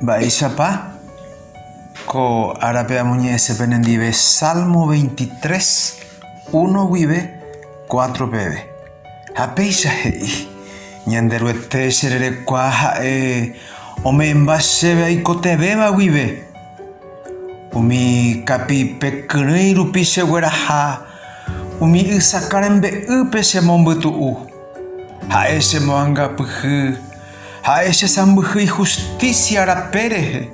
Mba'éichapa ko árape amoñe'ẽse penendive Salmo 23, 1 guive 4 peve. Ha péicha he'i, Ñanderuete chererekua ha'e ome'ẽmba chéve aikotevẽva guive. Umi kapi'ipe kyrỹi rupi chegueraha, umi ysakã rembe'ýpe chemombytu'u, ha'e chemoangapyhy. Ha'e che sãmbyhy ihustísia rape rehe,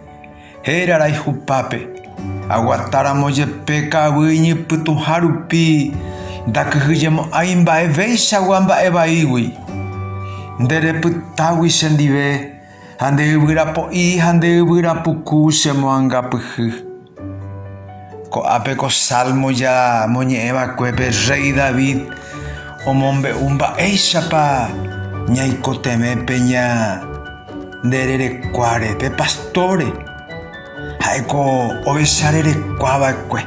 héra rayhupápe. Aguata ramo jepe ka'aguy iñypytũha rupi, ndakyhyjemo'ãi mba'evéichagua mba'e vaígui. Nde repytágui che ndive, ha nde yvyra po'i ha nde yvyra puku che moangapyhy. Ko'ápe ko Salmo ñamoñe'ẽ vakuépe rréi David omombe'u mba'éichapa ñaikotevẽ pe ñande rerekuáre, pe pastóre. Ha'éko ovecha rerekua va'ekue.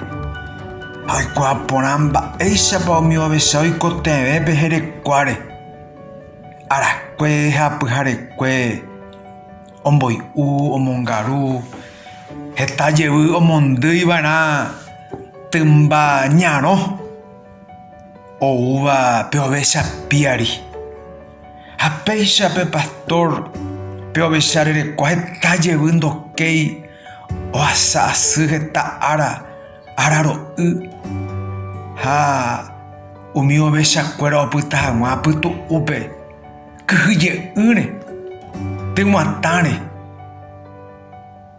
Ha oikuaa porã mba'éichapa umi ovecha oikotevẽ pe jerekuáre, arakue ha pyharekue. Omboy'u, omongaru, heta jevy omondýi va'erã tymba ñarõ oúva pe ovecha píari. Ha péicha pe pastór pe ovecha rerekua heta jevy ndokéi ohasa asy heta ára, ára ro'y. Ha umi ovecha kuéra opyta haguã pytu'úpe. kyhyje'ỹre, tyguatãre.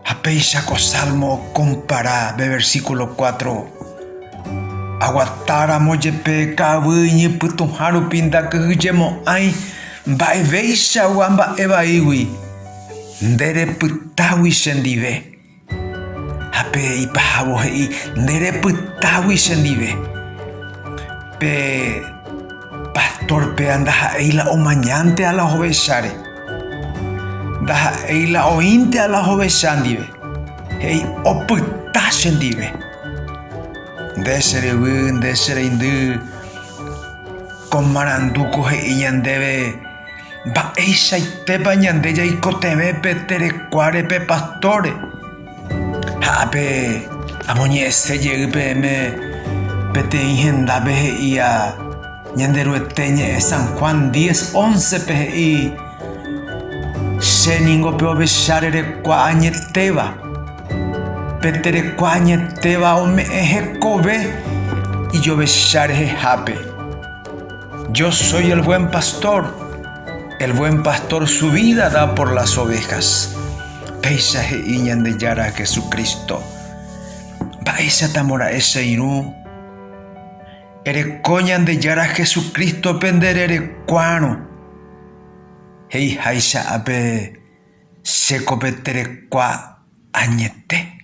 Ha péicha ko sálmo okompara pe versíkulo kuátro, Aguatáramo jepe ka'aguy iñypytũha rupi ndakyhyjemo'ãi mba'evéichagua mba'e vaígui, nderepytágui chendive. Ha pe ipahávo he'i, Nde repytágui chendive. Pe pastor péva ndaha'éi la omañánte a la hovecháre. Ndaha'éi la oĩnte a la hovecha ndive. He'i, Opyta chendive. Nde che ryvy, nde che reindy, ko marandu ko he'i ñandéve, Mba'eichaitépa ñande jaikotevẽ pe terekuáre pe pastóre? Ha ápe amoñe'ẽse jey peẽme peteĩ hendápe he'íva Ñanderuete ñe'ẽ San Juan 10, 11 pe he'i, Che ningo pe ovecha rerekua añetéva. Pe terekua añetéva ome'ẽ hekove ijovecha rehehápe. Yo soy el buen pastor, el buen pastor su vida da por las ovejas. Péicha he'i Ñandejára Jesucristo. Mba'éichatamo ra'e che irũ? Ereko Ñandejára Jesucrístope nde rerekuárõ. He'iháicha ápe, Chéko pe terekua añete.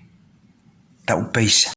Ta upéicha.